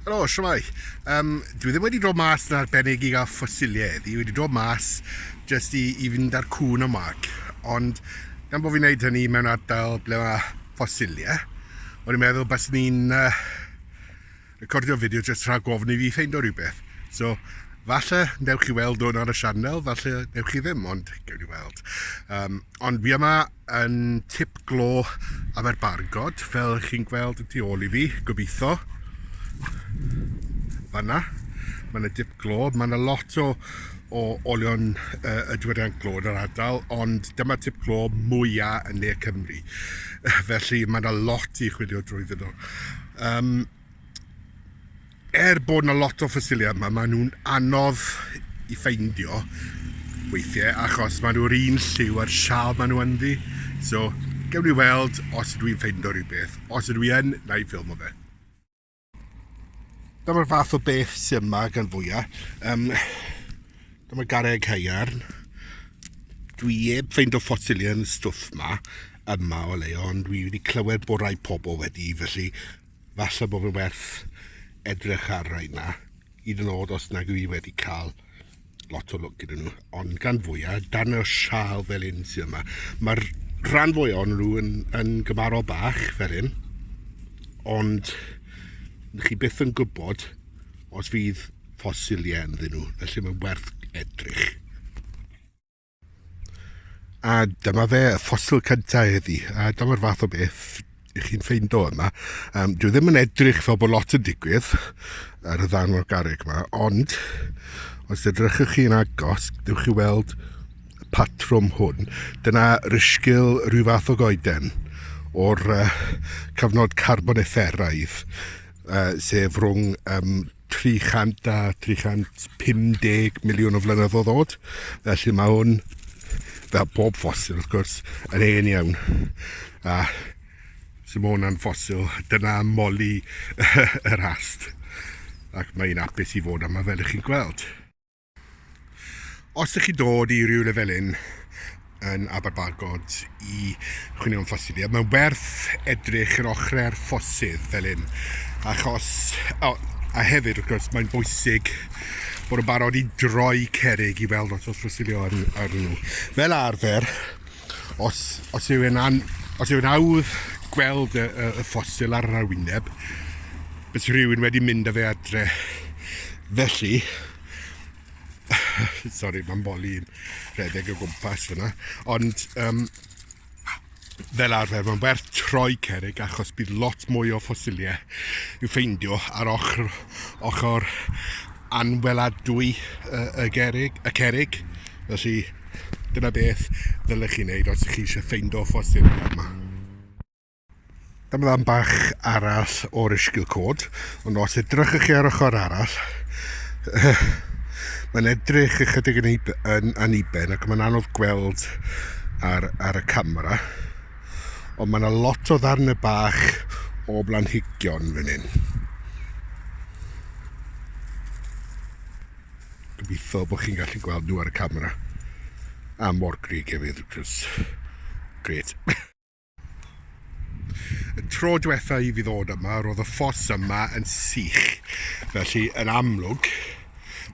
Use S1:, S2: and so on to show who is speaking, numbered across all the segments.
S1: Helo, siwmai. Um, dwi ddim wedi dod mas yn arbennig i gael ffosiliau eddi. Wedi dod mas jyst i, i fynd â'r cwn o Mark. Ond gan bod fi'n gwneud hynny mewn ardal ble mae ffosiliau, o'n i'n meddwl bys ni'n uh, recordio fideo jyst rhag gofyn i fi ffeind o rhywbeth. So, falle newch chi weld hwn ar y sianel, falle newch chi ddim, ond gewn ni weld. Um, ond fi yma yn tip glo Aberbargod, fel ych chi'n gweld y tu ôl i fi, gobeithio. Fanna, mae yna dip glo, mae yna lot o, o olion uh, y diwydiant glo yn yr ardal, ond dyma tip glo mwyaf yn ne Cymru. Felly mae yna lot i chwilio drwy ddyn nhw. Um, er bod na lot o ffosiliau yma, maen nhw'n anodd i ffeindio weithiau achos maen nhw'r un lliw a'r sial maen nhw ynddi. So, gewn ni weld os ydw i'n ffeindio rhywbeth. Os ydw i yn, na i ffilm o fe. Dyma'r fath o beth sy'n yma gan fwyaf. Um, dyma gareg haearn. Dwi heb ffeindio ffosiliau yn y stwff yma, yma o leio, ond dwi wedi clywed bod rhai pobl wedi, felly Falle bod fe werth edrych ar rai yma, hyd yn oed os nag yw i wedi cael lot o lwc gyda nhw, ond gan fwyaf, dan y sial fel un sydd yma. Mae'r rhan fwy o'n nhw yn, yn gymarol bach fel un, ond chi byth yn gwybod os fydd ffosiliau ynddyn nhw, felly mae'n werth edrych. A dyma fe, y ffosil cyntaf heddi. A dyma'r fath o beth i chi'n ffeindo yma. Um, dwi ddim yn edrych fel bod lot yn digwydd ar y ddan o'r garreg yma, ond os edrychwch chi'n agos, dywch chi weld y patrwm hwn. Dyna rysgil rhyw fath o goeden o'r uh, cyfnod carbonifferaidd, uh, sef rhwng um, 300 a 350 miliwn o flynyddoedd o ddod, felly mae hwn, fel bob ffosil wrth gwrs, yn hen iawn. A sy'n mae hwnna'n ffosil, dyna moli yr ast. Ac mae'n apus i fod yma fel ych chi'n gweld. Os ydych chi'n dod i rywle fel hyn yn Aberbagod i chwilio am ffosydd, ie, mae'n werth edrych yr ochrau'r ffosydd fel hyn, achos, o, a hefyd wrth gwrs mae'n bwysig bod yn barod i droi cerig i weld os oes ffosydd ar, ar nhw. Fel arfer, os, os yw'n an, os yw'n awdd gweld y, y, y ffosyl ar yr arwyneb, Bydd rhywun wedi mynd â fe adre. Felly, sori, mae'n boli yn rhedeg o gwmpas fyna, ond um, fel arfer, mae'n werth troi cerig achos bydd lot mwy o ffosiliau i'w ffeindio ar ochr, ochr anweladwy uh, y, gerig, y cerig. Felly, dyna beth ddylech chi wneud os ydych chi eisiau ffeindio ffosiliau yma. Dyma ddan bach arall o'r ysgil cod, ond os edrychwch chi ar ochr arall, mae'n edrych ychydig yn, yn aniben ac mae'n anodd gweld ar, ar y camera, ond mae yna lot o ddarn y bach o blanhigion fan hyn. Gobeithio bod chi'n gallu gweld nhw ar y camera. A mor grig hefyd, wrth gwrs. Gret. Y tro diwetha i fi ddod yma, roedd y ffos yma yn sych. Felly, yn amlwg,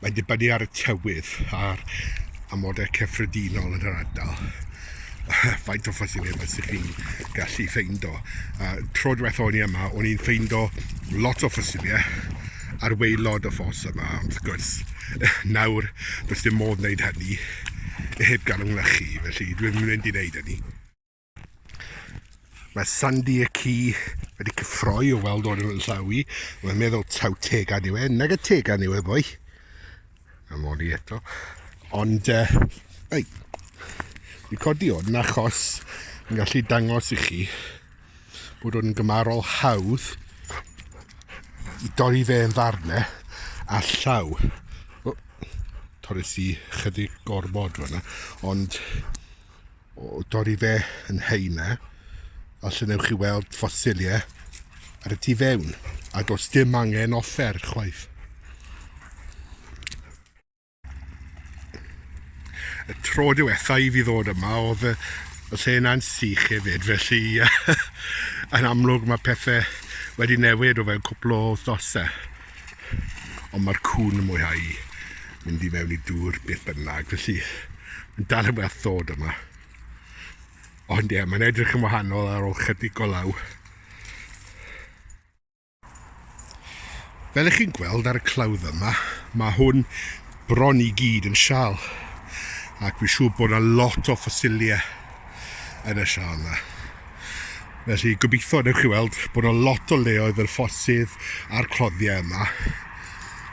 S1: mae'n dibynnu ar y tywydd a'r amodau cyffredinol yn yr ardal. Faint o ffosilau mae sy'n chi'n gallu ffeindo. A tro diwetha o'n i yma, o'n i'n ffeindo lot o ffosilau ar weilod y ffos yma, ond wrth gwrs, nawr, does dim modd wneud hynny heb gael yng nglychu, felly dwi'n mynd i wneud hynny. Mae Sandy y ci wedi cyffroi o weld o'r yn llaw i. Mae'n meddwl taw tegan yw e. Nag y tegan yw e, boi. Am o'n i eto. Ond, uh, ei, fi codi o'n achos yn gallu dangos i chi bod o'n gymarol hawdd i dorri fe yn ddarnau a llaw. O, torres i chydig gormod fyna, ond o dorri fe yn heina, falle newch chi weld ffosiliau ar y tu fewn, a does dim angen offer chwaith. Y tro diwetha i fi ddod yma, oedd y, y lle yna'n sych hefyd, felly yn amlwg mae pethau wedi newid o fewn cwpl o wythnosau. Ond mae'r cŵn yn mwynhau mynd i mewn i dŵr beth bynnag, felly yn dal yn fach ddod yma. Ond ie, mae'n edrych yn wahanol ar ôl chydig o law. Fel ych chi'n gweld ar y clawdd yma, mae hwn bron i gyd yn sial. Ac fi'n siŵr bod yna lot o ffosiliau yn y sial 'na. Felly gobeithio newch chi weld bod yna lot o leoedd fel ffosydd a'r cloddiau yma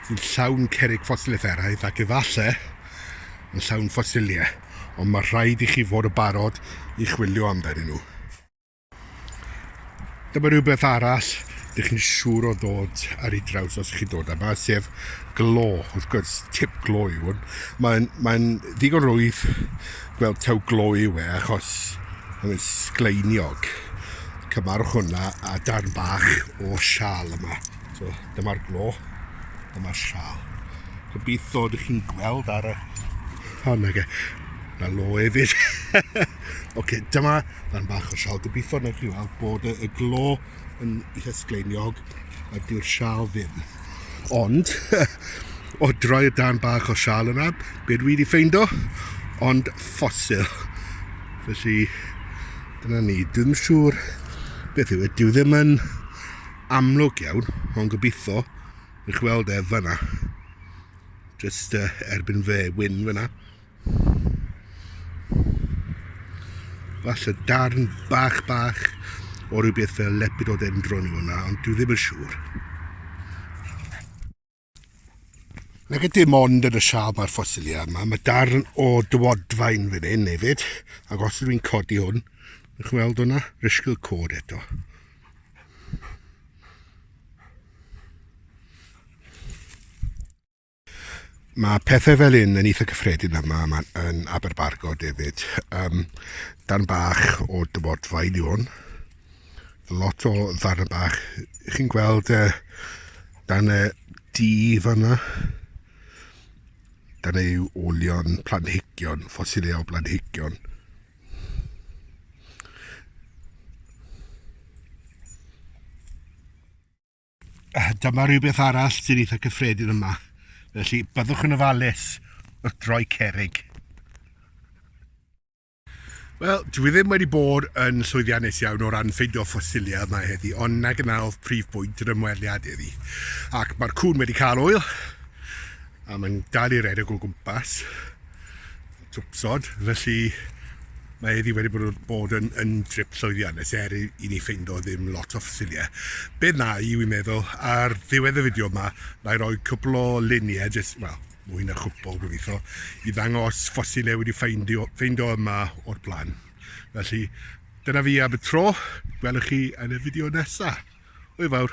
S1: sy'n llawn cerig ffosiliaeth eraidd ac efallai yn llawn ffosiliau, ond mae rhaid i chi fod y barod i chwilio amdanyn nhw. Dyma rhywbeth arall dych chi'n siŵr o ddod ar ei draws os chi'n dod yma, sef glo, wrth gwrs, tip glo yw hwn. Mae'n mae ddigon rwydd gweld taw glo yw e, achos mae'n sgleiniog. Cymarwch hwnna a darn bach o sial yma. So, dyma'r glo, dyma'r sial. Gobeithio ydych chi'n gweld ar y... O, nage, na lo efyd. Oce, dyma fan bach o sial. Gobeithio wneud chi weld bod y, y glo yn eitha sgleiniog a dyw'r sial ddim. Ond, o droi y dan bach o sial yna, be dwi wedi ffeindo? Ond ffosil. Felly, dyna ni. Dwi'n siŵr beth yw e. Dyw ddim yn amlwg iawn, ond gobeithio ych weld e fyna. Just uh, erbyn fe wyn fyna. Falle darn bach bach o rhywbeth fel lepid o ddendron yw hwnna, ond dwi ddim yn siŵr. Nag y dim ond yn y sial mae'r ffosiliau yma, mae darn o dywodfain fan hyn hefyd, ac os ydw i'n codi hwn, ych chi'n weld hwnna, risgl cod eto. Mae pethau fel un yn eitha cyffredin yma, yma yn Aberbargo, David. Um, dan bach o dyfodfa i ni hwn. Lot o ddarn bach. Chi'n gweld uh, dan y di fanna? Dan ei olion planhigion, ffosileau planhigion. Ah, dyma rhywbeth arall sy'n eitha cyffredin yma. Felly, byddwch yn ofalus wrth droi cerig. Wel, dwi ddim wedi bod yn llwyddiannus iawn o ran ffeindio ffosiliau yma heddi, ond na gyna oedd prif bwynt yr ymweliad heddi. Ac mae'r cwn wedi cael oil, a mae'n dal i redeg o gwmpas. tywysog, felly mae heddi wedi bod, bod yn, yn drip llwyddiannus er i, i ni ffeindo ddim lot o ffysilia. Beth na i, wi'n meddwl, ar ddiwedd y fideo yma, na i roi cwpl o luniau, jyst, wel, mwy na chwpl gobeithio, i ddangos ffosilia wedi ffeindio, ffeindio yma o'r blaen. Felly, dyna fi am y tro, gwelwch chi yn y fideo nesaf. Hwyl fawr!